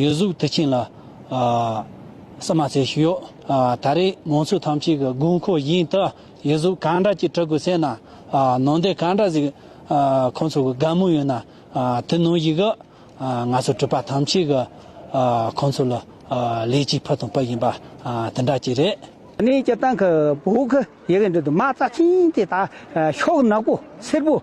ཡུལ་གཟུགས་དུས་ཆེན་ལ་བསམ་མ་བྱེད་ཞིག་ཡོད། ད་རེས་མང་ཚོགས་ཐམས་ཅད་ཀྱི་དགོས་མཁོ་བཞིན་དུ་ཡུལ་གཟུགས་གང་འདྲ་ཅིག་གྲུབ་དགོས་ཟེར་ན། ནང་བསྟན་གང་འདྲ་ཟིག་ཁོང་ཚོ་གི་དགའ་མོས་ཡོད་ན་དེ་ནང་བཞིན་གྱི་ང་ཚོ་གྲུབ་པ་ཐམས་ཅད་ཀྱི་ཁོང་ཚོ་ལ་ལེགས་སྐྱེས་ཕུལ་དང་ཕུལ་བཞིན་པ་དེ་འདྲ་ཅིག་རེད། གནས་སྐྱེལ་སྟངས་ཁུ་བོ་ཁུ་ཡི་གི་འདི་དུ་མ་རྩ་ཆེན་དེ་དག་ཤོག་ནག་པོ་སེར་པོ།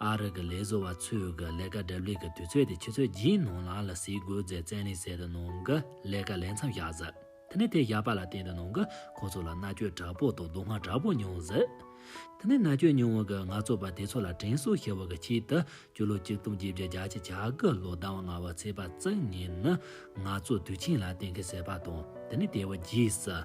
ཨ་རིག་གི་ལས་བཟོ་བ་ཚོས་གི་ལས་ཀ་སྒྲུབ་ལས་ཀི་དུས་ཚོད་དེ་ཆུ་ཚོད་བཞིའི་ནང་ལ་ལ་སིའི་སྒོས་རྫས་བཙན་ལས་སད་དུ་ནང་གི་ལས་ཀ་ལས་མཚམས་བཞག་ཟིག་དེ་ནས་དེ་བཞག་པ་ལ་བརྟེན་དུ་ནང་གི་ཁོ་ཚོ་ལ་མནར་གཅོད་དྲག་པོ་དང་སྡུག་བསྔལ་དྲག་པོ་མྱོང་ཟིག་དེ་ནས་མནར་གཅོད་མྱོང་བ་གི་ནག་ཚོགས་པ་དེ་ཚོ་ལ་དྲན་གསོ་ཞེས་བ་གི་ཆེད་དུ་སྤྱི་ལོ་གཅིག་སྟོང་བརྒྱད་བརྒྱ་རྒྱ་ཆེ་བྱ་གི་ལོ་ཟླ་བ་ལྔ་བ་ཚེས་པ་བཅུ་གཉིས་ནི་ནག་ཚོགས་དུས་ཆེན་ལ་གཏན་འཁེལ་ཟེར་བ་དང་དེ་ནས་དེ་བ་བརྒྱུད་ཟིག་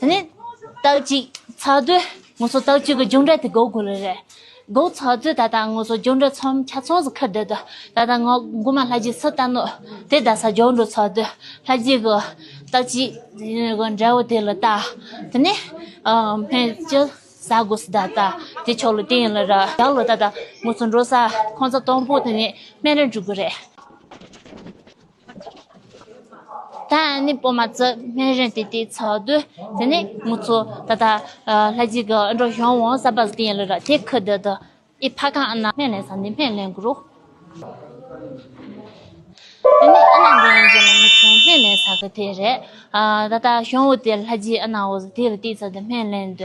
དེ་ནས་རྟགས་གཅིག་ཚགས་གཙོས་ངོ་སོ་རྟགས་བཅུ་གི་སྦྱོང་འབྲས་དེ་འགོག་དགོས་ལེ་རེད། འགོག་ཚགས་གཙོས་ད་ལྟ་ངོ་སོ་སྦྱོང་འབྲས་ཚོམ་ཆ་ཚོངས་སུ་ཁུར་བསྡད་དོ། ད་ལྟ་ང་མགུ་མ་ལྷ་རྗེ་སུ་ལྟ་ནུ། དེ་ལྟ་ས་སྦྱོང་འགྲོ་ཚགས་གཙོས་ལྷ་རྗེ་གི་རྟགས་གཅིག་གི་འབྲས་བུ་དེ་ལ་བལྟ། དེ་ནས་སྨན་ཅི་ཟ་དགོས་སུ་ད་ལྟ་དེ་ཆོག་ལོ་དེ་ཡིན་ལ་ར་བཞག་ལོ་ད་ལྟ་ངོ་སོ་འགྲོ་ས་ཁོང་ཚ་སྟོང་པོ་དེ་ནས་སྨན་རེ་འགྲུབ་དགོས་རེད། ད་ནི་སྤོ་མ་རྩི་སྨན་རིན་དེ་དེའི་ཚོགས་དུ་དེ་ནི་མུ་ཚོ་ད་ལྟ་ལྷ་རྗེ་གི་ཨི་འགྲོ་ཞང་བོང་ས་པར་སྟེང་ལ་ར་ཐའི་ཁུ་རྡི་དུ་ཨི་ཕ་ཁང་ཨ་ན་སྨན་ལེན་ས་འདི་སྨན་ལེན་གུ་རུ། དེ་ནི་ཨ་ན་འདི་ཡིན་ཅེས་ལ་མུ་ཚོ་སྨན་ལེན་ས་གི་དེ་རེད། ད་ལྟ་ཞང་བོ་དེ་ལྷ་རྗེ་ཨ་ན་འོ་ཟེར་དེ་ལ་བཏེགས་ཚ་འདི་སྨན་ལེན་དུ་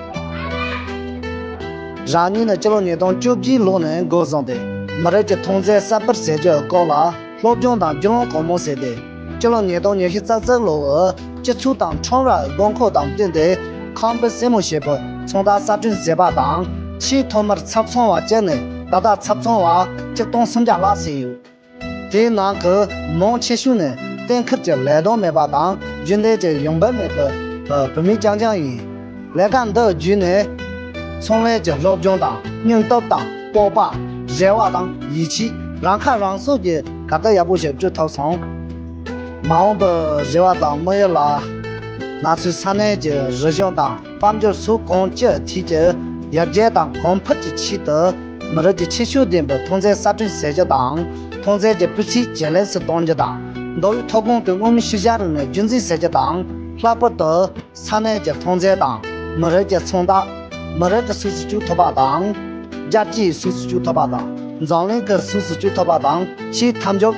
རང་ཉིད་ནི་སྤྱི་ལོ་ཉིས་སྟོང་བཅུ་བཞིའི་ལོ་ནས་འགོ་བཟུང་སྟེ་མི་རིགས་ཀྱི་མཐོང་ཚད་གསར་པར་ཟེར་རྒྱུའི་སྐོར་ལ་སློབ་སྦྱོང་དང་རྒྱུས་ལོན་གང་མང་བྱས་ཏེ། སྤྱི་ལོ་ཉིས་སྟོང་ཉེར་བཞི་ཙག་ཙིག་ལོའི་སྤྱི་ཚོགས་དང་ཁྲོམ་ར་དགོས་མཁོ་དང་བསྟུན་ཏེ་ཁང་པའི་སྲིང་མོ་ཞེས་པའི་ཚོང་རྟགས་གསར་སྐྲུན་བྱས་པ་དང། ཕྱིའི་ཐོག་མར་ཚབ་ཚོང་བ་བཅས་ནས་ད་ལྟ་ཚབ་ཚོང་བ་གཅིག་སྟོང་སུམ་བརྒྱ་ལྷག་བྱས་ཡོད། དེའི་ནང་གི་མང་ཆེ་ཤོས་ནི་གཏན་འཁེལ་གྱི་ལས་དོན་མེད་པ་དང་རྒྱུན་ལས་ཀྱི་ཡོང་འབབ་མེད་པའི་བོད་མི་རྐྱང་རྐྱང་ཡིན། ལས་ཀ་འདི་བརྒྱུད་ནས་ཚོང་ལས་ཀྱི་སློབ་སྦྱོང་དང་སྙིང་སྟོབས་དང་སྤོབས་པ། རེ་བ་དང་ཡིད་ཆེས་རང་ཁ་རང་གསོ་གྱི་གར་སྟབས་ཡག་པོ་ཞིག་བསྐྲུན་ཐུབ་སོང། མ་འོངས་པའི་རེ་བ་དང་དམིགས་ཡུལ་ལ། ང་ཚོའི་ས་གནས་ཀྱི་རིག་གཞུང་དང་དཔལ་འབྱོར་སུ་གང་ཅི་ཐད་ཀྱི་ཡར་རྒྱས་དང་གོང་འཕེལ་གྱི་ཆེད་དུ། མི་རིགས་ཀྱི་ཁྱད་ཆོས་ལྡན་པའི་ཐོན་རྫས་གསར་སྐྲུན་བྱེད་རྒྱུ་དང། ཐོན་རྫས་ཀྱི་སྤུས་ཚད་ཇེ་ལེགས་སུ་གཏོང་རྒྱུ་དང། མདོ་དབུས་མཐོ་སྒང་གི་དབུས་མི་ཤུལ་བཞག་རིག་གནས་རྒྱུན་འཛིན་བྱེད་རྒྱུ་དང། ལྷག་པར་དུ། ས་གནས་ཀྱི་ཐོན་རྫས་དང། མི་རིགས་ཀྱི་མཚོན་རྟགས། མི་རིགས་ཀྱི་ཟུག་གཟེར་བཅོས་ཐུབ་པ་དང། རྒྱལ་སྤྱིའི་ཟུག་གཟེར་བཅོས་ཐུབ་པ་དང། འཛམ་གླིང་གི་ཟུག་གཟེར་བཅོས་ཐུབ་པ་དང་ཕྱིའི་མཐའ་འཇོག།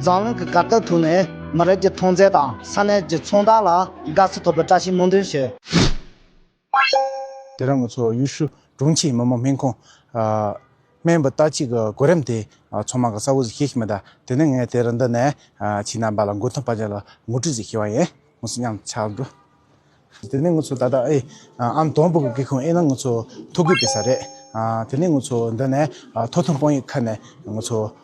འཛམ་གླིང་གི་གར་སྟབས་ཐུག་ནས་མི་རིགས་ཀྱི་ཐོན་རྫས་དང་ས་གནས་ཀྱི་མཚོན་རྟགས་ལ་དགའ་བསུ་ཐོབ་པའི་བཀྲ་ཤིས་སྨོན་འདུན་ཞུ། དེ་རིང་ང་ཚོ་ཡུས་ཧྲུའུ་དྲུང་ཆེའི་མི་དམངས་སྨན་ཁང། སྨན་པ་རྟ་གཅིག་གི་གོ་རིམ་དེ་ཚོང་མང་གི་ས་འོག་ཟིག་ཤེས་ཀྱི་མི་གདའ། དེ་ནི་ངས་དེ་རིང་འདི་ནས་ཁྱེད་རྣམ་པ་ལ་མགོ་འཐོམ་པ་ཅན་ལ་ངོ་སྤྲོད་ཟིག་ཤེས་བ་ཡིན། ངོ་སོ་ཉམས་ཆག་འགྲོ། དེ་ནི་ངུ་ཚོ་ད་ལྟ་ཨེ་ཨམ་དོང་བུ་གི་སྐེ་ཁུང་ཨེ་ན་ངུ་ཚོ་ཐོ་གུས་པའི་ས་རེད། དེ་ནི་ངུ་ཚོ་འདི་ནས་ཐོ་ཐུང་པང་ཡིག་ཁ་ནས་ངུ་ཚོ།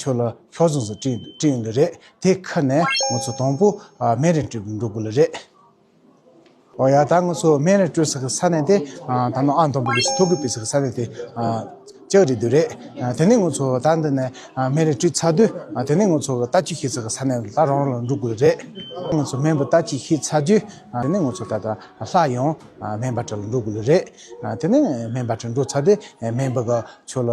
ཁྱོད་ལ་ཤོག་རྫོང་སུ་སྤྲིངས་ཡོང་གི་རེད་དེ་ཁ་ནས་ང་ཚོ་དང་པོ་སྨན་རིན་སྤྲོད་འགྲོ་དགོས་ལ་རེད། ཨོ་ཡ་ད་ང་ཚོ་སྨན་རིན་སྤྲོད་ས་གི་ས་གནས་དེ་ད་ནང་ཨ་འདོམ་པོ་ལུགས་སུ་ཐོ་འགོད་སྤེལ་ས་གི་ས་གནས་དེ་ལྕགས་རི་དུ་རེད་དེ་ནས་ང་ཚོ་ད་འདི་ནས་སྨན་རིན་སྤྲོད་ཚར་དུས་དེ་ནས་ང་ཚོ་ལྟ་སྤྱི་ཤེས་ས་གི་ས་གནས་ལ་རང་རང་ལ་འགྲོ་དགོས་ལ་རེད། ང་ཚོ་སྨན་པ་ལྟ་སྤྱི་ཤེས་ཚར་དུས་དེ་ནས་ང་ཚོ་ད་ལྟ་ལྷ་ཡང་སྨན་པ་ཁྲ་ལ་འགྲོ་དགོས་ལ་རེད་དེ་ནས་སྨན་པ་ཁྲ་འགྲོ་ཚར་དུས་སྨན་པ་ག་ཁྱོད་ལ་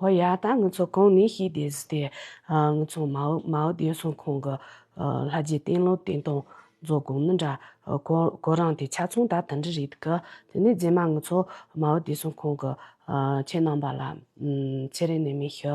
ཨོ་ཡ། ད་ངུ་ཚོ་གང་ནས་ཤེས་དེ་ཟི་དེ། ངུ་ཚོ་མའོ་ཏེ་སུང་ཁོང་གི་ལྷ་རྗེ་བསྟན་བློ་བསྟན་སྟངས་རྫོགས་དགོངས་ནི་འདྲ། ཁོ་རང་དེ་ཆ་ཚང་ད་ད་འདྲི་རེད་གི། དེ་ནས་རྗེས་མ་ངུ་ཚོ་མའོ་ཏེ་སུང་ཁོང་གི་ཁྱེད་རྣམས་པ་ལ་ཚེ་རིང་ནས་མི་ཤི།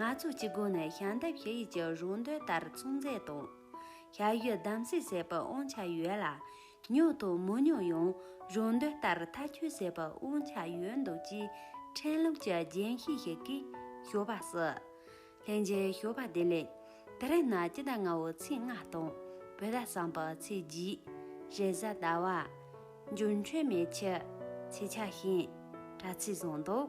ནག་ཚོགས་ཀྱི་སྒོ་ནས་ཞལ་འདེབས་ཞུ་ཡུལ་གྱི་རུ་འདོད་ལྟར་ཚོང་རྫས་དང། ཞལ་གཡོས་གདམ་གསེས་ཟེར་པའི་དབང་ཆ་ཡོད་ལ། ཉོ་དང་མི་ཉོ་ཡང་རུ་འདོད་ལྟར་མཐའ་འཁྱོལ་བྱེད་པའི་དབང་ཆ་ཡོད་འདུག་ཅེས་ཕྲན་ལུགས་ཀྱི་རྒྱན་ཤེས་ཤིག་གིས་ཞུ་བ་སྲིད། ལྷན་རྒྱས་ཞུ་བ་དེ་ལས། དེ་རིང་ནི་སྤྱི་ཟླ་ལྔ་བའི་ཚེས་ལྔ་དང་བོད་ཟླ་གསུམ་པའི་ཚེས་བརྒྱད། རེས་གཟའ་ཟླ་བ། འབྱོར་འཕྲོད་མེད་ཕྱི། ཚེས་ཆ་ཤས། དྲ་ཚིགས་བཟང་འདུག།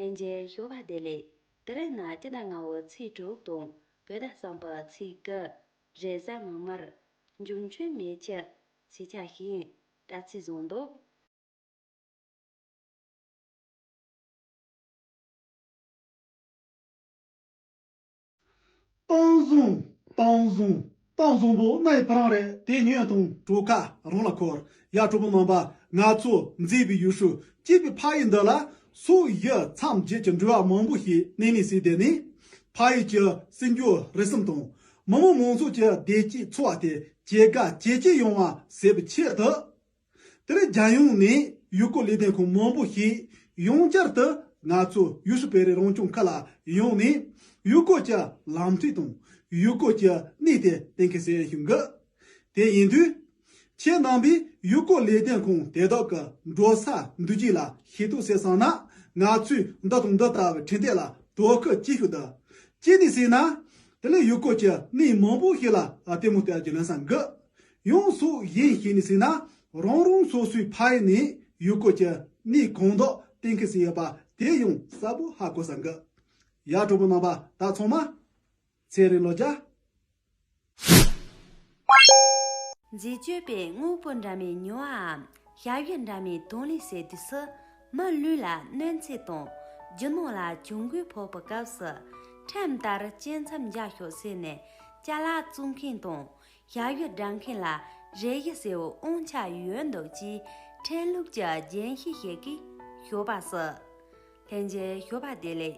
ལྷན་རྒྱས་ཞོགས་པ་དེ་ལས་དེ་རིང་ན་སྐྱིད་ཟླ་ལྔ་བོ་ཚེས་དྲུག་དང་བོད་ཟླ་གསུམ་པ་ཚེས་དགུ་རེས་གཟའ་མིག་དམར། འབྱུང་ཆུ་མེ་ཁྱི། ཞེས་ཆགས་ཤིང་དྲ་ཚིགས་བཟང་འདུག། བཏང་བཟུང། བཏང་བཟུང། བཏང་བཟུང་པོ་སྣ་ཡི་ཕ་རང་རེད་དེ་ཉོས་བཏང། གྲོ་ཁ་རང་ལ་འཁོར། ཡ་གྲོ་པོ་མམ་པ། ང་ཚོ་མཛེས་པའི་ཡུལ་ཧྲུའུ་ཅི་པའི་ཕ་ཡུལ་འདི་ལ། སོ་ཡི་མཚམས་བརྒྱད་ཀྱི་འགྲུལ་བ་མང་པོ་ཞིག་གནས་ནས་སྲིད་དེ་ནས། ཕ་ཡུལ་གྱི་སྲིད་འགྱུར་རེ་ཟུང་དང། མི་དམངས་མང་ཚོགས་ཀྱི་བདེ་སྐྱིད་འཚོ་བ་དེ་ཇེ་དགའ་ཇེ་སྐྱིད་ཡོང་བ་བྱེད་པའི་ཆེད་དུ། དེར་རྒྱལ་ཡོངས་ནས་ཡུལ་སྐོར་ལས་དོན་ཁང་མང་པོ་ཞིག་ཡོངས་བསྐྱར་དུ་ང་ཚོ་ཡུས་ཧྲུའུ་བེ་རི་རང་སྐྱོང་ཁུལ་ལ་ཡོང་ནས་ཡུལ་སྐོར་གྱི་ལམ་ཐིག་དང་ཡུལ་སྐོར་གྱི་གནས་དེ་གཏན་འཁེལ་གསལ་ཞུ་འགོད་དེ་ཡིན་དུས། ཁྱེད་རྣམ་པས་ཡུལ་སྐོར་ལས་དོན་ཁང་དེ་དག་གི་འགྲོ་ས་འདུ་གཅིག་ལ་ཤེས་རྟོགས་བྱས་སོང་ན་ང་ཚོས་འདི་དང་འདི་ལྟ་བུའི་འཕྲིན་སྟེགས་ལ་དོ་ཁུར་ཅི་ཞིག་བསྡུ། ཅི་ནས་ཟེར་ན། དེ་ལས་ཡུལ་སྐོར་གྱི་གནས་མང་པོ་ཞིག་ལ་ལྟད་མོ་བལྟ་རྒྱུ་ལོན་ས་འགུལ་ཡོངས་སུ་ཡིན་བཤད་ནས་ཟིན་ན་རང་རང་སོ་སོའི་ཕ་ཡུལ་ནས་ཡུལ་སྐོར་གྱི་གནས་གང་དག་གཏན་འཁེལ་ཟིན་ཡོད་པ་དེ་ཡང་གསལ་པོ་ཧ་གོ་ས་འགི། ཡ་གྲོགས་པོ་རྣམ་པ་ད་ཚང་མ། ཚེ་རིང་བློ་རྒྱ། མཛེས་སྤྱོད་པའི་དངོས་པོ་འདྲ་མིན་ཉོ་བའམ་ཞབས་ཞུ་འདྲ་མིན་དོན་ལས་སའི་དུས་སུ། མ་ལུས་ལ་གནོད་འཚེ་དང་རྒྱུ་ནོར་ལ་གྱོང་གུད་ཕོག་པའི་སྐབས་སུ། ཁྲིམས་ལྟར་བཅད་མཚམས་རྒྱག་ཤོག་ཟེར་ནས་ཅལ་ལག་བཙུགས་མཁན་དང་ཞྭ་གཡོས་བསྒྲགས་མཁན་ལ་རས་གཡས་སེའུ་ཨོང་ཆ་ཡོད་འདུག་ཅེས་ཕྲན་ལུགས་ཀྱི་རྒྱན་ཤེས་ཤིག་གིས་ཞོ་པ་ཟེར། ལྷན་རྒྱས་ཞོ་པ་དེ་ལས།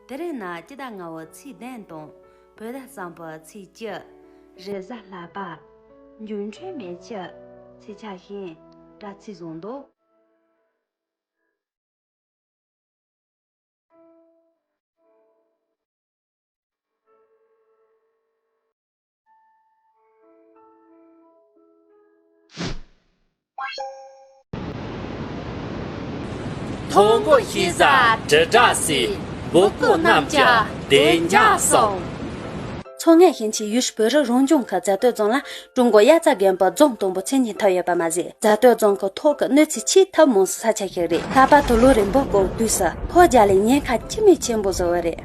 དེ་རིང་ན་སྐྱི་བདག་ང་བོ་ཚིག་ལྡན་དང་བོད་ཟླ་བཟང་པོ་ཚིག་སྐྱིད། རེས་གཟའ་ལྷག་པ། འགྱུར་འཕྲོད་མེད་ཁྱི། ཚིག་ཆགས་ཤིང། སྒྲ་ཚིག་བཟང་འདུག། མཐོང་སྒོ་ཤེས་བྱ་དྲིལ་བསྒྲགས་སའི་འབོད་སྐུལ་རྣམས་ཀྱང་བདེ་འཇགས་སོང། མཚོ་སྔོན་ཞིང་ཆེན་ཡུས་ཧྲི་བོད་རིགས་རང་སྐྱོང་ཁུལ་རྫ་སྟོད་རྫོང་ལ་ཀྲུང་གོ་དབྱར་རྩྭ་རྒན་པོ་རྫོང་དང་པོ་ཚན་གཉིས་ཐོབ་ཡོད་པ་མ་ཟད་རྫ་སྟོད་རྫོང་གི་ཐོག་གི་གནོད་འཚེ་ཆེས་ཐབས་མང་བའི་ས་ཆ་ཞིག་རེད་ལྷག་པར་དུ་ལོ་རིམ་པ་སྐོར་དུས་སུ་ཕོ་རྒྱ་ལས་ཉེན་ཁ་ཅི་མི་ཆེན་པོ་བཟོ་བ་རེད།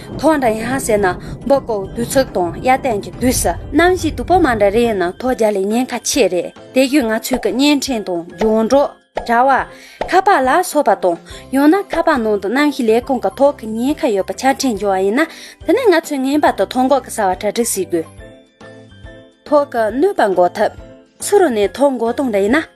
ཐོག་མཐའ་ཡང་ཟེར་ན་འབག་བརྐོ་བསྡུ་ཚགས་དང་གཡའ་རྟེན་གྱི་བསྡུ་ས་རྣམ་བཞི་དུ་པོ་མ་འདྲ་རེ་ཡིན་ན་ཐོག་རྒྱ་ལས་ཉེན་ཁ་ཆེ་རེད་དེ་བཞིན་ང་ཚོས་ཀྱི་བརྙན་འཕྲིན་དང་རྒྱང་སྒྲོག་དྲ་བ། ཁ་པར་ལ་སོགས་པ་དང་ཡང་ན་ཁ་པར་ནང་དུ་རྣམ་བཞི་ལས་ཁུངས་ཀྱི་ཐོག་གི་ཉེན་ཁ་ཡོད་པ་ཆ་འཕྲིན་འབྱོར་བ་ཡིན་ན་དེ་ནས་ང་ཚོས་ངེས་པར་དུ་ཐོག་འགོག་གི་གསར་བ་གྲ་སྒྲིག་བྱེད་དགོས། ཐོག་གི་གནོད་པ་འགོག་ཐབས། ཚུར་ནས་ཐོག་འགོག་གཏོང་རྒྱུ་ཡིན་ན།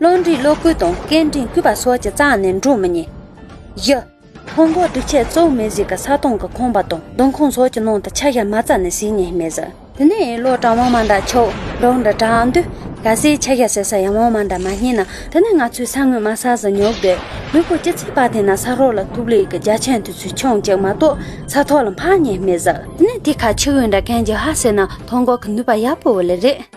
བློ་འདྲིས་བློ་བསྐུལ་དང་སྐད་འདྲིས་བསྐུལ་བ་སོགས་ཀྱི་རྩ་ནས་འགྲོ་མི་ཉན། བཞི། ཕུང་ཁོག་སྒྲིག་ཆས་གཙོ་བོ་མེ་གཟིགས་ཀྱི་ས་སྟོང་གི་ཁང་པ་དང་སྡོང་ཁང་སོགས་ཀྱི་ནང་དུ་ཆ་ཤས་མ་རྩ་ནས་ཟིན་ཉེན་མེད་ཟེར། དེ་ནས་ཡིན་ལོག་གྲང་བ་མ་འདྲ་ཆོག་རོགས་འདྲ་གྲང་དུས་ག་སའི་ཆ་ཤས་ཟེར་ས་ཡང་བ་མ་འདྲ་མ་རྙེད་ན་དེ་ནི་ང་ཚོས་ས་ངོས་མ་ཟ་ཟིན་ཉོག་དེ་མི་ཕོ་སྐྱི་ཚིག་པ་དེ་ན་ས་རོགས་ལ་ཐུག་ལས་ཀྱི་རྒྱ་ཆེན་དུས་ཚོད་ཆུང་གཅིག་མ་གཏོགས་ས་ཐོག་ལ་འཕངས་ཉེན་མེད་ཟེར། དེ་ནས་དེ་ཁ་ཆུ་བོའི་འདྲ་མཁན་གྱི་ཧ་ཟེར་ན་ཐོང་གོག་གི་ནུས་པ་ཡག་པོ་བོ་ལེ་རེད།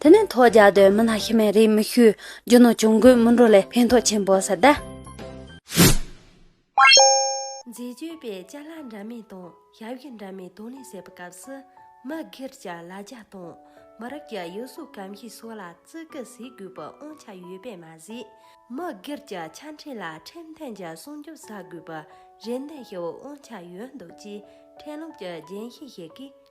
དེ་ནས་ཐོག་རྒྱག་དུས་མི་ལ་ཤི་མེད་རེ་མི་ཞུ། རྒྱུ་ནོར་གྱོང་གུད་མི་འགྲོ་ལས་ཕན་ཐོགས་ཆེན་པོ་ཟེར་ད། མཛེས་དཔྱོད་པས་བཅའ་སླ་འདྲ་མིན་དང་ཞབས་ཞུ་འདྲ་མིན་དང་ལེན་བྱེད་པའི་སྐབས་སུ། མི་སྒེར་གྱི་ལ་རྒྱ་དང་མི་རབས་ཀྱི་ཡུལ་སྲོལ་གང་ཞིག་སོགས་ལ་བརྩི་བཀུར་བྱེད་དགོས་པའི་དབང་ཆ་ཡོད་པས་མ་ཟད། མི་སྒེར་གྱི་ཆ་འཕྲིན་ལ་ཁྲིམས་མཐུན་གྱི་སྲུང་སྐྱོབ་བྱ་དགོས་པའི་རེ་འདུན་ཞུ་བའི་དབང་ཆ་ཡོད་འདུག་ཅེས་ཁྲིམས་ལུགས་ཀྱི་རྒྱན་ཤེས་ཤིག་གིས་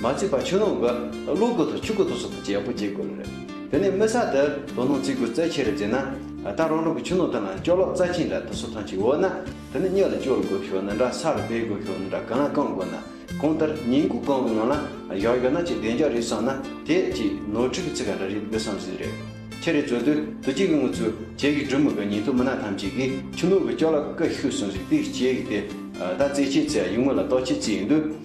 མ་བརྩིས་པར་ཆུ་ནང་གི་གློག་སྒུལ་དང་ཆུ་སྒུལ་དང་སོགས་བཅས་ཡག་པོ་འབྱེད་དགོས་ལ། དེ་ནས་མི་ས་དེར་དོ་སྣང་བརྩི་དགོས་རྩལ་ཆེ་རུ་འཛིན་ན། ད་རང་རང་གི་ཆུ་ནང་དུ་ན་ཅོག་གློག་རྩ་ཆེན་འདྲ་དུ་སོ་ཐང་ཅིག་འོ་ན། དེ་ནི་གཉིད་ལ་སྐྱོར་དགོས་ཤོག་ནི་འདྲ་སར་སྦས་དགོས་ཤོག་ནི་འདྲ་གང་ལ་བསྐང་དགོས་ན་གང་ལྟར་ཉིན་གུང་བསྐང་བའི་ནང་ལ་བཞག་ཡོད་ན་ཅིག་བདེ་འཇགས་རེད་བསམ་ན་དེ་ཅིག་ནོར་འཁྲུལ་གྱི་ཚིག་ག་འདྲ་རེད་འདི་བསམ་ཟིན་རེད། ཁྱེད་རེ་ཚོས་དུས་དུས་གཅིག་གི་ངུ་ཚུལ་ཁྱེད་ཀྱི་སྒྲུབ་མི་དགའ་ཉིན་ཐོ་མི་སྣ་ཐམས་ཅད་ཀྱིས་ཆུ་ནང་གི་ཅོག་གློག་ཀི་ཤུ་ཟུང་ཟིག་ཏིག་ཅེས་ཀྱི་དེ་ད་རྩེད་ཆས་ཚེ་གཡུང་མོ་ལ་རྟོག་ཆས་རྩེད་ཡིན་དུས།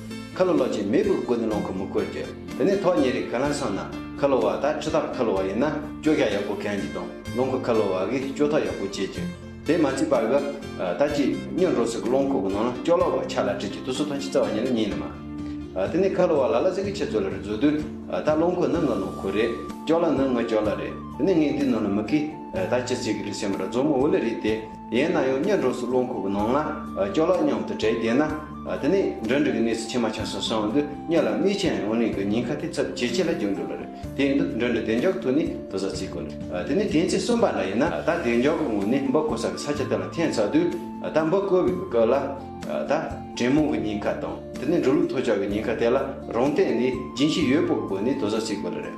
ཁ་ལོ་ལོ་ཅེས་མོས་གུས་ཀྱི་སྒོ་ནས་ལོངས་སྐུ་མི་བསྐུར་རྒྱུ། དེ་ནས་ཐོག་ཉེ་རིགས་ག་ལ་སོང་ན་ཁ་ལོ་བ་དང་ཁྲི་ཐར་ཁ་ལོ་བ་ཡིན་ན་ཅོ་ཤ་ཡག་པོ་གན་རྒྱུ་དང་ལོངས་སྐུ་ཁ་ལོ་བ་གིས་ཅོ་ཐོག་ཡག་པོ་བཅད་རྒྱུ། དེས་མ་བརྩིས་པར་གི་ད་ཅི་སྙོན་འགྲོ་ཟིག་གི་ལོངས་སྐུ་གི་ནང་ན་ཅོ་ལོ་བ་ཆ་ལ་བྲིས་ཀྱི་དུ་སུ་ཐོན་ཅི་རྩ་བ་ཉིད་ལ་ཉིད་ནི་མ། དེ་ནས་ཁ་ལོ་བ་ལ་ལ་ཟིག་གི་ཆེ་ཚོ་ལ་རི་བཟོ་དུས་ད་ལོངས་སྐུ་ནི་ངའི་ལོངས་སྐུ་རེད་ཅོ་ལོ་ནི་ངའི་ཅོ་ལོ་རེད་དེ་ནས་ངའི་འདིའི་ནང་ན་མི་གིས་ད་ཅི་ཟིག་གི་རི་སེམས་ར་རྫོང་མོ་འུ་ལི་རི་དེ་ཡན་ན་ཡང་གཉེན་འགྲོགས་སུ་རླུང་ཁུག་གི་ནང་ན་སྐྱོ་ལ་སྙམ་དུ་བྲེལ་བསྡད་ན། དེ་ནས་འགྲོས་འགྲིག་གི་གནས་སུ་ཕྱི་མ་ཆ་སོ་སོའང་དུ་སྙོད་ལ་མིག་ཆེན་ཡང་རིང་གི་ཉིན་ཁ་ཐི་ཚབ་ཇེ་ཆེ་ལ་འགྱུར་འགྲོ་ལ་རེད་དེའི་འདུ་འགྲོས་འདི་བདེ་མགྱོགས་ཐུག་ནས་དུ་ཟ་ཚིག་གོ། དེ་ནས་དེང་ཚེ་གསུམ་པ་འདྲ་ཡིན་ན་ད་བདེ་མགྱོགས་ཀི་ངུ་ནས་འབུ་བརྐོ་ས་གི་ས་ཆ་དེ་ལ་འཐེན་ཚར་དུས་ད་འབུ་བརྐོ་བའི་གི་སྐབས་ལ། ད་དྲེད་མོང་གི་ཉིན་ཁ་དང་དེ་ནས་འགྲོ་ལུགས་ཐོ་ཅོག་གི་ཉིན་ཁ་དེ་ལ་རང་སྟེང་ནས་སྦྱིན་གཤིས་ཡོད་པོ་བཀོལ་ནས་དུ་ཟ་ཚིག་གོ་ལ་རེད།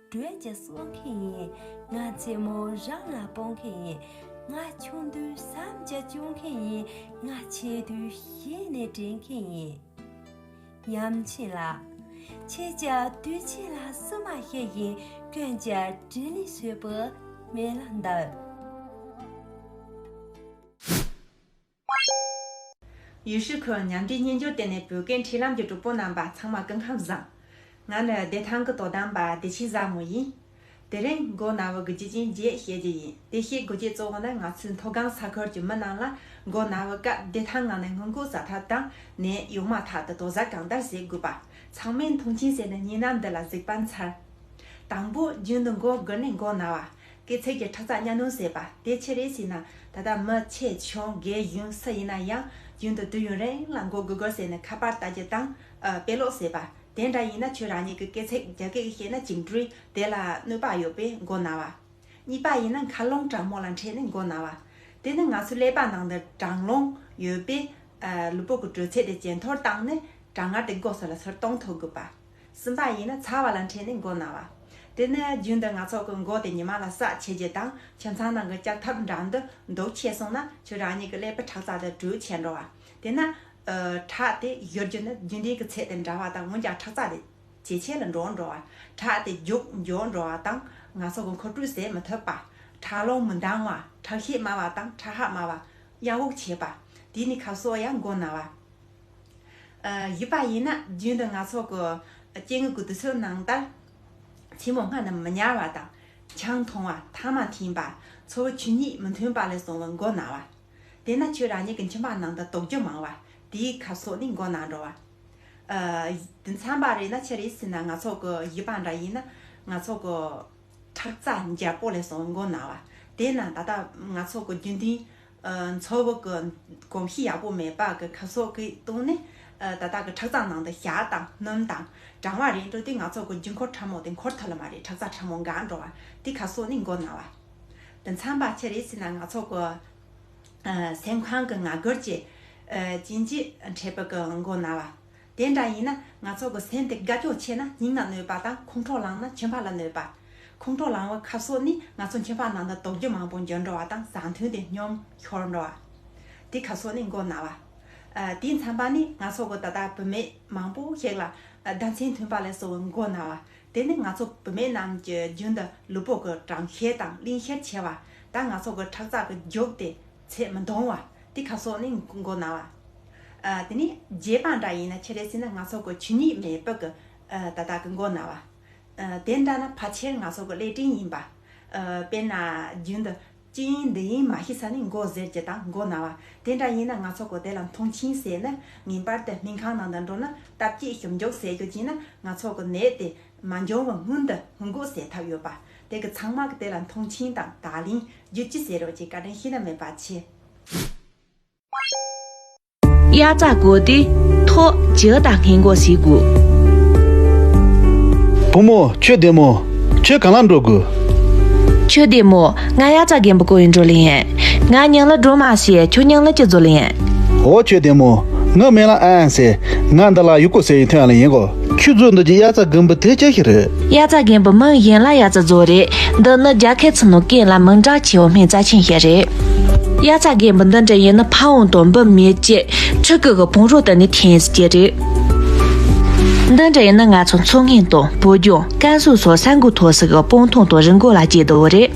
བགྲོད་ཀྱི་སྲོག་མཁན་ཡིན། ང་ཆེན་མོ་རང་ལ་སྤོང་མཁན་ཡིན། ང་ཆུང་དུས་བསམ་གྱི་བཅོམ་མཁན་ཡིན། ང་ཆེ་དུས་ཤེས་ནས་དྲན་མཁན་ཡིན། ཉམས་ཆེན་ལ། ཁྱེད་ཀྱི་དུས་ཆེན་ལ་སུ་མ་ཤེས་བཞིན་ཀུན་གྱི་དྲིན་ལས་སོས་པོ་མེད་ལ་འདོད། ཡུལ་ཤུལ་ཁུལ་མཉམ་འབྲེལ་སྨྱན་སྦྱོར་ལྟེ་གནས་བོད་སྐད་འཕྲིན་ལམ་གྱི་གྲོགས་པོ་རྣམ་པ་ཚང་མ་སྐུ་ཁམས་བཟང། ང་ནི་བདེ་ཐང་གི་དོ་དམ་པ་བདེ་ཆེན་བཟང་མོ་ཡིན། དེ་རིང་མགོ་ན་བའི་དགུ་བརྒྱ་ཅན་བརྒྱད་བཤད་རྒྱུ་ཡིན་དེ་བཤད་དགུ་བརྒྱད་གཙོ་བོ་ནི་ང་ཚོའི་མཐོ་སྒང་ས་ཁུལ་གྱི་མི་རྣམས་ལ་མགོ་ན་བའི་སྐབས་བདེ་ཐང་ངང་ནས་སྔོན་འགོག་བྱ་ཐབས་དང་ནད་ཡོང་མ་ཐག་ཏུ་དོགས་ཟ་གང་ལྟར་བྱེད་དགོས་པ། ཚང་མས་མཐོང་ཆེན་བྱས་ནས་གཉིས་སྣང་འདི་ལ་གཟིགས་པ་མཚར། དང་པོ་རྒྱུན་དུ་མགོ་སྒུར་ནས་མགོ་ན་བ། སྐྱེད་ཚལ་གྱི་ཁྲག་རྩ་གཉའ་གནོན་བཟོས་པ་དེ་ཆེད་རེད་ཟེར་ན་ད་ལྟ་མི་ཆེ་ཆུང་རྒས་གཞོན་སུ་ཡིན་ན་ཡང་རྒྱུན་དུ་དུས་ཡུན་རིང་ལ་འགོ་དགོས་དགོས་ཟེར་ནས་ཁ་པར་ལྟ་རྒྱུ་དང། དཔེ་ཀློག་ཟེར་པ་དེ་འདྲ་ཡིན་ན་ཁྱོད་རང་ཉིད་ཀྱི་སྐྱེད་ཚལ་རྒྱ་སྐེགས་ཤེས་ན་གཅིག་འབྲུས་དེ་ལ་གནོད་པ་ཡོད་པས་མགོ་ན་བ། གཉིས་པ་ཡིན་ན་མཁའ་རླུང་གྲང་མོ་ལ་འཕྲད་ནས་མགོ་ན་བ། དེ་ནི་ང་ཚོའི་ཀླད་པ་ནང་དུ་གྲང་རླུང་ཡོད་པས་ལུས་པོ་གི་དྲོད་ཚད་དེ་ཇེ་མཐོར་བཏང་ནས་གྲང་ངར་དེ་མགོ་སོགས་ལ་ཚུར་གཏོང་ཐུབ་དགོས་པ། གསུམ་པ་ཡིན་ན་ཚ་བ་ལ་འཕྲད་ནས་མགོ་ན་བ། དེ་ནི་རྒྱུན་དུ་ང་ཚོ་གི་མགོ་དེ་ཉི་མ་ལ་ཟགས་ཆེ་རྗེས་དང་ཁྱིམ་ཚང་ནང་གི་ལྕགས་ཐབ་འདྲ་འདི་འདུག་ཆད་སོང་ན་ཁྱོད་རང་ཉིད་ཀྱི་ཀླད་པའི་ཁྲག་རྩ་དེ་དྲོད་ཆད་འགྲོ་བ། དེས་ན། ཁྲག་དེ་བཞུར་རྒྱུ་ནི་རྒྱུན་ལྡན་གྱི་ཚད་དེ་འདྲ་བ་དང་འོན་ཀྱང་ཁྲག་རྩ་དེ་ཇེ་ཆེ་ལ་འགྲོ་འགྲོ་བ། ཁྲག་དེ་རྒྱུག་འབྱོར་འགྲོ་བ་དང་ང་ཚོ་གི་འཁོར་སྤྲུལ་ཟད་མི་ཐུབ་པ། ཁྲག་རླུང་མི་འདང་བ། ཁྲག་ཤེད་དམའ་བ་དང་ཁྲག་ཧྭགས་དམའ་བ། གཡང་འུག་བྱེད་པ། དེ་ནི་ཁ་ཟོ་ཡང་མགོ་ན་བ། བཞི་པ་ཡིན་ན་རྒྱུན་དུ་ང་ཚོ་གི་སྐྱེ་དངོས་ཀྱི་དུས་ཚོད་ནང་ལྟར། ཆེན་མོ་སྔ་རྣམས་མི་ཉར་བ་དང། ཆང་འཐུང་བ་ཐ་མ་ཐིངས་པ། འཚོ་བའི་ཆོས་ཉིད་མི་མཐུན་པ་ལས་བྱུང་བའི་མགོ་ན་བ། དེས་ན་ཁྱོད་རང་ཉིད་ཀྱི་མཆིན་པ་ནང་དུ་དོགས་འགྱུ་མང་བ་དེའི་ཁབ་སོགས་ནི་མགོ་ན་འགྲོ་བ། དེ་མཚམས་པ་རེད་ན་ཕྱི་རེས་ཟིན་ན་ང་ཚོ་གི་བཞི་པ་འདྲ་ཡིན་ན། ང་ཚོ་གི་ཁྲག་རྩ་འཇམ་པོ་ལས་བྱུང་བའི་མགོ་ན་བ། དེས་ན་ད་ལྟ་ང་ཚོ་གི་རྒྱུན་ལྡན། མཚོ་བོད་ཀྱི་གོམས་གཤིས་ཡག་པོ་མེད་པ་གི་ཁ་སོགས་ཀྱིས་བཏུང་ནས་ད་ལྟ་གི་ཁྲག་རྩང་ནང་དུ་ཞག་དང་སྣུམ་དང་གྲང་བ་རེ་འགྲོ་དུས་ང་ཚོ་གི་རྒྱུ་འཁོར་ཕྲ་མོ་དེ་འཁོར་ཐུབ་ལ་མ་རེད་ཁྲག་རྩང་ཕྲ་མོ་འགའ་འགྲོ་བ་དེ་ཁ་སོགས་ནི་མགོ་ན་བ་དེ་མཚམས་པ་ཆེ་རེད་ཟེར་ན་ང་ཚོ་གི་སེམས་ཁང་གི་ང་རྒོལ་གྱི་བྱིན་གྱིས་འཕྲལ་པའི་མགོ་ན་བ། དེ་འདྲ་ཡིན་ན་ང་ཚོ་གི་སེམས་དེ་དགའ་སྐྱོ་ཆེ་ན་སྙིང་ན་གནོད་པ་དང་ཁོང་ཁྲོ་ལངས་ན་ཁྱིམ་བག་ལ་གནོད་པ། ཁོང་ཁྲོ་ལངས་བའི་ཁབ་སོགས་ནི་ང་ཚོ་ཁྱིམ་བག་ནང་དུ་དོགས་འདྲི་མང་པོ་འབྱོར་འགྲོ་བ་དང་བཟང་མཐུན་དེ་སྙོམས་ཤོར་འགྲོ་བ། དེ་ཁབ་སོགས་ནི་མགོ་ན་བ། དེའི་མཚན་པ་ནི་ང་ཚོ་གི་ད་ལྟ་བུད་མེད་མང་པོ་ཞིག་ལ་ཟླ་མཚན་མཐུན་པ་ལས་གསོ་བའི་མགོ་ན་བ། དེ་ནི་ང་ཚོ་བུད་མེད་རྣམས་ཀྱི་རྒྱུན་དུ་ལུས་པོ་གི་གྲང་ཤེད་དང་གླིང་ཤེད་ཆེ་བ་དང་ང་ཚོ་གི་ཁྲག་རྩ་གི་རྒྱུགས་དེ། ཚད་མི་འདང་བ། དེ་ཁ་སོགས་ནི་མགོ་ན་བ། དེ་ནས་རྗེས་དཔག་འདྲ་ཡིན་ན་ཕྱི་རལ་སྲིད་ན་སྔགས་སོགས་ཀྱི་ཆུ་ཉིད་མེད་པ་ཀི་ཏཱ་དག་གི་མགོ་ན་བ། དེ་འདྲ་ན་ཕ་ཆེར་སྔགས་སོགས་ཀྱི་ཀླད་སྤྲིན་ཡིན་པ། དཔེར་ན་རྒྱུན་དུ། ཅིང་འདི་ཡིན་མ་ཤི་ས་ནི་མགོ་གཟེར་གྱི་ཏང་མགོ་ན་བ། དེ་འདྲ་ཡིན་ན་སྔགས་སོགས་ཀྱི་དེ་ལ་མཐོང་ཆིངས་བསལ་ནི་ངེས་པར་དུ་སྨིན་ཁང་ནང་དུ་འགྲོ་ན་རྟ་བསྐྱེད་ཞོབ་འཇོག་བསལ་རྒྱུ་གཅིག་ན་སྔགས་སོགས་ཀྱི་ནད་དེ་མ་འབྱུང་བར་སྔོན་དུ་སྔོན་འགོག་བསལ་ཐབས་ཡོད་པ། དེ་གི་ཚང་མ་གི་དེ་ལ་མཐོང་ཆེན་དང་དག་ལིང་རྒྱུད་ཅི་ཟེར་རོ་ཅེས་བཀའ་དྲིན་ཤིན་ན་མེད་པ་ཆེ། དབྱར་རྩྭ་དགོས་ཏེ་ཐོག་བྱེའུ་དང་སྔས་མགོ་ཞིག་དགོས། བུ་མོ་ཁྱོད་བདེ་མོ། ཁྱོད་གང་ལ་འགྲོ་དགོས། ཁྱོད་བདེ་མོ། ང་དབྱར་རྩྭ་རྒན་པོ་ཀོ་ཡིན་འགྲོ་ལེ་ཡན། ང་སྙིང་ལ་འགྲོ་མ་ཤེས་ཁྱོད་སྙིང་ལ་ཅི་འཛོ་ལེ་ཡན། འོ་ཁྱོད་བདེ་མོ། ང་སྨན་ལ་ཨ་ཨན་ཟེར། ང་འདི་ལ་ཡུག་ཀོ་ཟེར་ཡི་ཐོན་ཡ་ལེ་ཡན་གོ། ཁྱོད་ཚོའི་འདོད་ཀྱི་དབྱར་རྩྭ་རྒན་པོ་དེ་ཅི་ཞིག་རེད། དབྱར་རྩྭ་རྒན་པོ་མིང་གཞན་ལ་དབྱར་རྩྭ་བཟོ་རེད་འདི་ནི་རྒྱ་ཁའི་ཚུ་ནུ་ཀན་ལ་མིང་གྲགས་ཆེ་བའི་སྨན་རྩྭ་ཆེན་ཞིག་རེད། དབྱར་རྩྭ་རྒན་པོ་འདི་འདྲ་ཡིན་ན་ཕ་འུང་དང་འབུ་མེད་བཅས་ཕྱི་རྒྱལ་གྱི་བོང་རོ་དེ་ནས་འཐེན་ཟིག་གི་རེད། འདི་འདྲ་ཡིན་ན་ང་ཚོ་མཚོ་སྔོན་དང་བོད་ལྗོངས་ཀན་སུའུ་སོགས་ས་འགུལ་མཐོ་སའི་སྤང་ཐང་དང་རི་འགོ་ལ་སྐྱེལ་དགོས་རེད།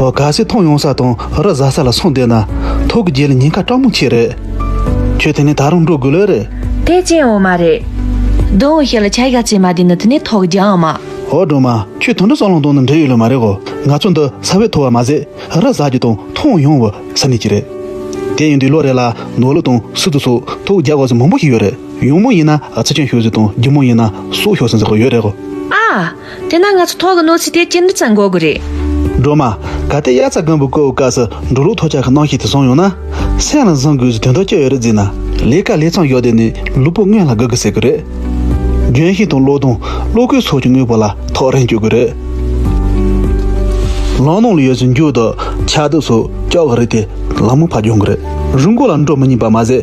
ཨོ་ག་སེ་ཐང་ཡོང་ས་དང་རི་བཟའ་ས་ལ་སོང་བསྡད་ན་ཐོག་གི་རྗེས་ལ་ཉེན་ཁ་དྲག་མོ་འཁྱེར་རེད། ཁྱོད་དེ་ནས་ད་རུང་འགྲོ་དགོས་ལོས་རེད། ཐེག་ཆེན་འོ་མ་རེད། དོན་འོ་ཤེས་ལ་ཆ་གཞག་བྱེད་མ་བསྡད་ན་དེ་ནས་ཐོག་རྒྱ་འང་མ། ཨོ་སྒྲོལ་མ་ཁྱོད་དོན་འགྲུབ་སྲང་ལོང་དང་ནི་འབྲེལ་ཡོད་ལོས་མ་རེད་གོ་ང་ཚོ་འདི་ས་བོད་ཐོ་བ་མ་ཟད་རི་བཟའ་རྒྱུ་དང་ཐང་ཡོང་བ་ས་གནས་ཀྱི་རེད། དེ་ཡིན་དུས་ལོ་རེ་ལ་ནོར་ལུག་དང་སུ་དུ་སོགས་ཐོག་རྒྱ་དགོས་ས་མང་པོ་ཞིག་ཡོད་རེད་ཡོང་མུ་ཡིན་ན་ཚི་ཆེན་ཤོད་ཟིག་དང་རྒྱུ་མུ་ཡིན་ན་སོག་ཤོད་ཟིན་ཟེར་བ་ཡོད་རེད་གོ། ཨ། དེས་ན་ང་ཚོ་ཐོག་གི་གནོད་འཚེ་དེ་ཅི་འདྲ་ཙམ་འགོག་དགོས་རེད། སྒྲོལ་མ། གལ་ཏེ་དབྱར་རྩྭ་དགུན་འབུ་བརྐོ་བའི་སྐབས་སུ་འགྲོ་ལུགས་ཐོག་ཆར་གྱི་གནོན་ཤུགས་དེ་བཟུང་ཡོང་ན། སེམས་ལ་བཟུང་དགོས་ཀྱི་དོན་དག་ཅི་ཡོད་རེད་ཟེར་ན། ལས་ཀ་ལས་ཚང་ཡོད་དོན་ནི་ལུས་པོ་སྔོན་ལ་དགོས་གི་ཟེར་གི་རེད། ལྗོན་ཤིང་དང་གློག་སྡོང་གློག་སྐུད་སོགས་ཀྱི་དངོས་པོ་ལ་ཐོག་རེངས་སྤྱོད་དགོས་རེད། ལམ་ནང་ལ་ཡོད་ཚད་མཇུག་ཏུ་ཆགས་སྡུག་སོགས་སྐྱོག་གི་རེད་དེ་ལ་མོ་ཕ་སྦྱོང་གི་རེད། རུལ་འགོག་ལ་འགྲོ་མི་ཉན་པ་མ་ཟད་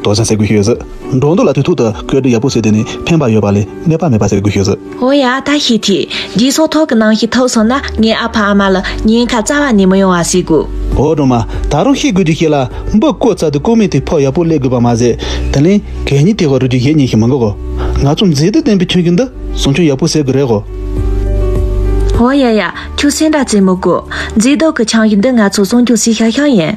རྡོ་ཆེན་ཟེར་དགོས་ཤོས་ཟིག། འབྲོག་འདུག་ལ་དུས་ཐུག་ཏུ་ཁོས་འབྲུ་ཡག་པོ་ཟོས་དེ་ནི་ཕན་པ་ཡོད་པ་ལས་གནོད་པ་མེད་པ་ཟེར་དགོས་ཤོས་ཟིག། ཨོ་ཡ་ད་ཤི་ཐི། འདིའི་སོག་ཐོག་གི་ནང་ཤི་ཐུབ་སོང་ན་ངའི་ཨ་ཕ་ཨ་མ་ལ་ཉེན་ཁ་རྩ་བ་ནས་མི་ཡོང་བ་ཟེར་དགོས། ཨོ་སྒྲོལ་མ། ད་རུང་ཤི་དགོས་རྒྱུ་ཞིག་ལ་འབུ་བརྐོས་ཚར་དུས་རྐུན་མས་དེ་ཕོག་ཡག་པོ་སླེ་དགོས་པ་མ་ཟད། དེ་ལན་གད་སྙིགས་དེ་བར་རུ་རྒྱུ་ཡེ་ཉེས་ཤིག་མི་འགོག་གོ། ང་ཚོ་མཛེས་སྡུག་ལྡན་པའི་ཁྱོན་གྱི་འདི་བཟུང་ཆོག་ཡག་པོ་ཟེར་དགོས་རེད་གོ། ཨོ་ཡ་ཡ། ཁྱོད་སེམས་པ་བཙིར་མི་དགོས། མཛེས་སྡུག་གི་ཆང་གི་འདི་ང་ཚོ་བཟུང་རྒྱུ་སྲིད་ཤག་ཤག་ཡིན།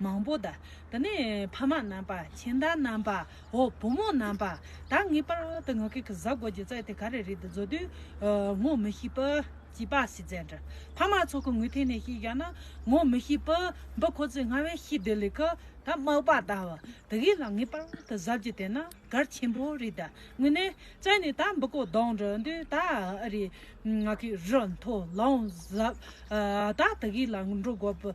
མང་པོ་དང། དེ་ནས་ཕ་མ་རྣམ་པ། མཁྱེན་བརྟགས་རྣམ་པ། འོ་བུ་མོ་རྣམ་པ། དག་ངེས་པར་དུ་ངག་གི་གཟའ་རྒོད་ཀྱི་རྩལ་དེ་ག་རེ་རེད་དུ་བཟོ་དུས། ངོ་མི་ཤེས། བྱིས་པ་ཞིག་བཙལ་འདྲ། ཕ་མ་ཚོ་གི་ངོས་ཐད་ནས་ཤེས་བཞག་ན། ངོ་མི་ཤེས། འབུ་ཁོ་ཚོས་སྔ་བས་ཤེས་དེ་ལས་ཁུ། ད་མག་པ་ད། དེ་གས་ལ་ངེས་པར་དུ་གཟབ་རྒྱུ་དེ་ན་གར་ཆེན་པོ་རེད། དངོས་གནས་བཙལ་ནས་ད་འབུ་ཁོ་བདོག་འདྲ་འདུག་ད་ཨ་རེ། ང་གིས་རི་མཐོ་ལོང་གཟབ། ད་དེ་གས་ལ་འགྲོ་དགོས།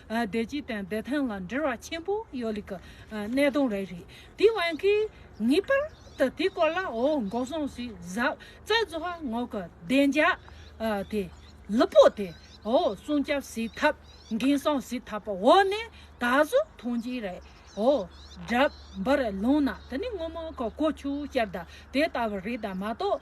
བདེ་སྐྱིད་དང་བདེ་ཐང་ལ་འབྲེལ་བ་ཆེན་པོ་ཡོད་ལེ་ཀི་གནད་དོན་རེད་རེད་དེ་དབང་གིས་ངེས་པར་དུ་དེ་སྐོར་ལ་འོ་འགོག་སོང་ཟིག་གཟབ་རྩ་བཟོ་བ་ངོ་གི་བདེ་འཇགས་དེ་ལུ་པོ་དེ་འོ་སྲུང་སྐྱབས་ཟིག་ཐབས་འགན་སྲོང་ཟིག་ཐབས་པ་འོ་ནས་ད་གཟོ་ཐོང་ཅིག་རེད་འོ་སྒྲབ་འབར་ལུང་ན་དེ་ནི་སྔོན་མ་གི་ཀོ་ཆུ་སྐྱར་ད་དེ་ལྟ་བུ་རེད་ད་མ་གཏོགས།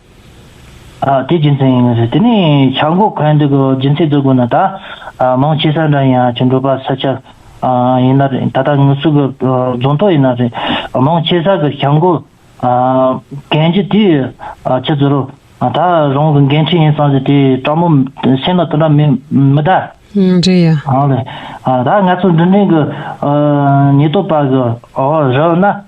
དེ་རྒྱུ་མཚན་ཡིན་ནི་རེད། དེ་ནས་བྱ་འགོག་གན་འདི་གོ་རྒྱུ་མཚན་བརྡོལ་དགོས་ན་ད། མང་ཆེ་ས་འདྲ་ཡིན་ཨ་ཆེ་འགྲོ་པ་ས་ཆ་ཡིན་ན་རེད་ད་ལྟ་ངུ་ཚུགས་གི་རྫོང་ཐོག་ཡིན་ན་རེད། མང་ཆེ་ས་གི་བྱ་འགོག་གན་རྒྱུ་དེ་ཆུ་ཚོད་རོ། ད་རང་གི་འགན་འཁྲི་ཡིན་སང་ཟིག་དེ་དྲང་མོ་སེམས་ལ་དོ་འདྲ་མི་མི་གདའ། འདྲེ་ཡ། ཨང་ལེ། ད་ང་ཚོ་འདི་འདྲེན་གི་ཉེས་རྟོག་པ་གི་འོག་རོལ་ན།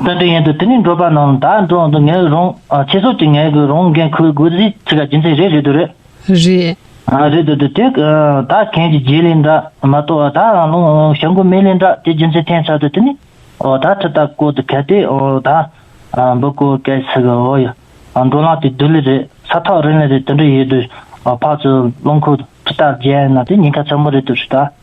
དཔེ་དོན་ཡན་དུ་དེ་ནི་འབྲོག་པ་རྣམས་ད་འགྲོ་འོང་དུ་ངེས་རུང་ཆེད་སོགས་ཀྱིས་ངལ་དགོས་རུང་འགན་ཁུར་དགོས་རིགས་ཚིག་ཁ་རྒྱུ་མཚན་རེད་རེད་དུ་རེད། རེད། རེད་དུ་དུ་དེ་ད་གན་གྱི་རྗེས་ལས་འདྲ་མ་གཏོགས་ད་རང་ལུང་ཞང་གོ་མེད་ལས་འདྲ་དེ་རྒྱུ་མཚན་ཐན་ཚར་དུ་དེ་ནི་ད་ཁྲི་རྟ་བསྐོར་དུ་གལ་ཏེ་ད་འབུ་བསྐོར་སྐད་ཟེར་གི་འོ་ཡ་འགྲོ་ལངས་དེ་དུ་ལི་རེད་ས་ཐག་རིང་ལི་རེད་དུ་འདྲི་ཡོད་དུ་ཕག་ཚོས་རླུང་ཁུག་ཁྲི་རྟ་བརྒྱན་ན་དེ་ཉེན་ཁ་ཚ་མོ་རེད་དུ་རེད་ད།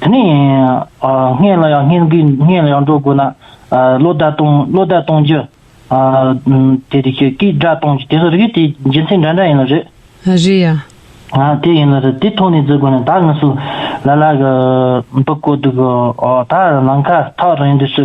དེ་ནས་སྔས་ལ་ཡང་སྔས་འགུལ་སྔས་ལ་ཡང་འགྲོ་དགོས་ན། ལོ་ཟླ་གཏོང་ལོ་ཟླ་གཏོང་རྒྱུ། དེ་རིགས་ཀྱི་སྐེ་སྦྲ་གཏོང་རྒྱུ་དེ་ཚོ་རིགས་དེ་རྒྱུ་མཚན་འདྲ་འདྲ་ཡིན་ལ་རེད། རེད་ཡ། དེ་ཡིན་ལ་རེད་དེ་ཐོག་ནས་བརྫི་དགོས་ན་ད་ངུ་སུ་ལ་ལ་གི་འབུ་བརྐོ་འདུག་གི་ད་ནང་ཁ་ཐག་རིང་དུས་སུ་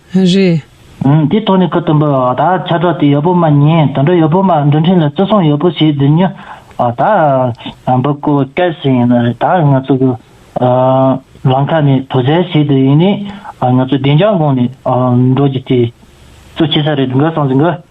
རེད། དེའི་ཐོག་ནས་ཁུལ་དང་པོའི་བར་ཐག་ཆ་སྒྲོག་དེ་ཡོད་པོ་མ་ཉིད་དོན་དྲུག་ཡོད་པོ་མ་འདུ་འཕྲིན་ལ་བརྩི་སྲུང་ཡོད་པོ་ཞིག་འདི་ཉིད་བར་ཐག་འབབ་སྐུ་བསྐལ་བཞི་ཡིན་ན་རེ་ད་ང་ཚོ་གི་ལམ་ཁ་ནི་དོ་ཟལ་ཞིག་ཏུ་ཡིན་ནས་ང་ཚོ་བདེ་འཇགས་ངང་ནས་འགྲོ་རྒྱུ་དེ་གཙོ་ཆེ་ས་རེད་དགོས་སོང་ཟིན་གི།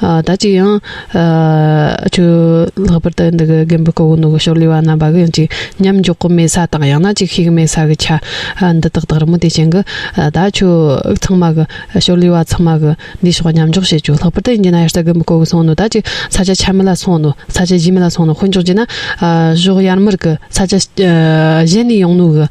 ད་ཅི་ཡང། ཁྱོད། ལྷག་པར་དུ་འདི་གི་རྒན་པོའི་སྐུ་གོང་ནས་ཕྱོགས་ལས་བ་རྣམས་པ་གི་ཅིག་མཉམ་འཇོག་གི་མེད་ས་དང་ཡང་ན་ཅིག་ཤེས་ཀྱི་མེད་ས་གི་ཆ། འདི་དག་དག་རི་མོ་དེ་བྱེད་གི། ད་ཁྱོད། ཚང་མ་གི། ཕྱོགས་ལས་བ་ཚང་མ་གི། འདིའི་ཕྱོགས་མཉམ་འཇོག་བྱེད་ཅོག་ལྷག་པར་དུ་འདི་ན་ཡར་ས་རྒན་པོའི་སྐུ་གི་སོང་ནོ་ད་ཅིག་ས་ཆ་ཆ་མི་ལ་སོང་ནོ་ས་ཆ་བཞི་མི་ལ་སོང་ནོ་དཀོན་མཆོག་བགྱིས་ན། ཕྱོགས་ཡར་མར་གི་ས་ཆ། གཞན་ནས་ཡོང་ནོ་གི།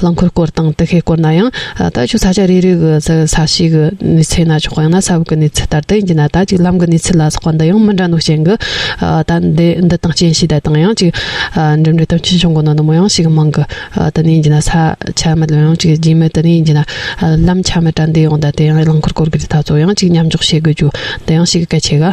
རླངས་འཁོར་སྐོར་དང་དུ་ཤེལ་སྐོར་ན་ཡང་ད་ཆོད་ས་ཆ་རེ་རེ་གི་ས་གཤིས་ཀྱི་གནས་ཚད་ན་ཆོག་ཡང་ན་ས་བབ་ཀྱི་གནས་ཚད་ལྟར་དུ་ཡིན་གྱི་ན་ད་ཅིག་ལམ་གྱི་གནས་ཚད་ལ་སོགས་པ་འདི་ཡང་མི་འདྲ་འདུག་རྐྱེན་གྱི་ད་འདི་དང་རྐྱེན་གཤིས་དེ་དང་ཡང་ཅིག་འགྲིམ་འགྲུལ་དོན་ཆེན་བྱུང་དགོས་ན་ནུབ་མོ་ཡང་ཞིག་མང་གི་དུ་ནས་ཡིན་གྱི་ན་ས་ཆ་མི་ལོན་ཡང་ཅིག་རྗེས་མའི་དུ་ནས་ཡིན་གྱི་ན་ལམ་ཆ་མི་དྲ་འདི་ཡོང་ད་དེ་ཡང་རླངས་འཁོར་སྐོར་གྱི་རི་ད་གཙོ་ཡང་ཅིག་མཉམ་འཇོག་བྱེད་དགོས་རྒྱུ་དེ་ཡང་ཞིག་གལ་ཆེ་ག།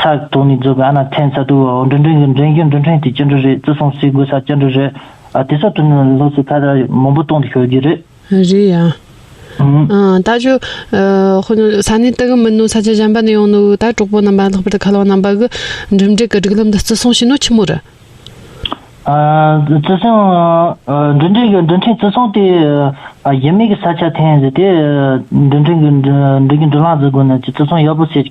ཚ་གདུག་ནས་རྫོགས་པའི་ཨ་ན་ཐན་ས་དུ་བའོ་འབྲུ་འགྲེང་གི་འགྲེང་རྒྱུ་འབྲུ་འཕྲེང་དེ་སྐྱེ་འགྲོ་རེད་བཙོ་སོང་སའི་དགོས་ས་སྐྱེ་འགྲོ་རེད་ཨ་དེ་སོགས་དུ་ནས་ལྷོ་སའི་ཁ་དར་མང་པོ་གཏོང་དུ་ཤོར་རྒྱུ་རེད། རེད་ཡ། ད་ཆོ། ཧོ། ས་གནས་དེ་གི་མི་ནོ་ས་ཆ་གཞན་པ་ནས་ཡོང་ནོ་ད་གྲོགས་པོ་རྣམ་པ་ལྷག་པར་དུ་ཁ་ལོ་རྣམ་པ་གི་འགྲིམ་འགྲེལ་གི་སྒྲིག་ལམ་དུ་བརྩི་སྲུང་བྱེད་ནོ་ཁྱི་མོ་རི། བརྩི་སྲུང། འབྲུ་འགྲེང་གི་འབྲུ་འཕྲེང་བརྩི་སྲུང་དེ་གཞི་མེད་གི་ས་ཆ་ཐན་ཟེར་དེ་འབྲུ་འགྲེང་གི་འབྲུ་གི་འབྲུ་ལངས་བརྩི་དགོས་ན་ཅི་བརྩི་སྲུང་ཡག་པོ་བྱེད།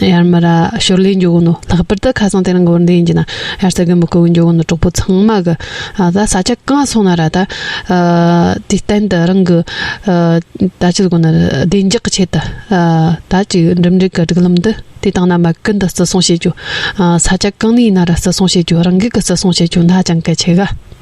ཡར་མར་ཞོར་ལས་འཇོག་གནོད་ལྷག་པར་དུ་ཁ་སང་དེ་རིང་གི་བར་འདས་ཡིན་གྱི་ན་ཡར་ས་གི་མི་བསྐོ་བའི་འཇོག་གནོད་གྲོགས་པོ་ཚང་མ་གི་ད་ས་ཆ་གང་སོང་ན་ར་ད་དུས་གཏན་དུ་རང་གི་ད་ཅི་དགོ་ན་བདེ་འཇགས་ཀྱི་ཆེད་དུ་ད་ཅིག་འགྲིམ་འགྲུལ་གི་སྒྲིག་ལམ་དུ་དེ་དང་ན་མ་ཀི་འདི་བརྩི་སྲུང་བྱེད་རྒྱུ་ས་ཆ་གང་ནས་ཡིན་ན་ར་བརྩི་སྲུང་བྱེད་རྒྱུ་རང་འགུལ་གི་བརྩི་སྲུང་བྱེད་རྒྱུ་ཧ་ཅང་གལ་ཆེ་གི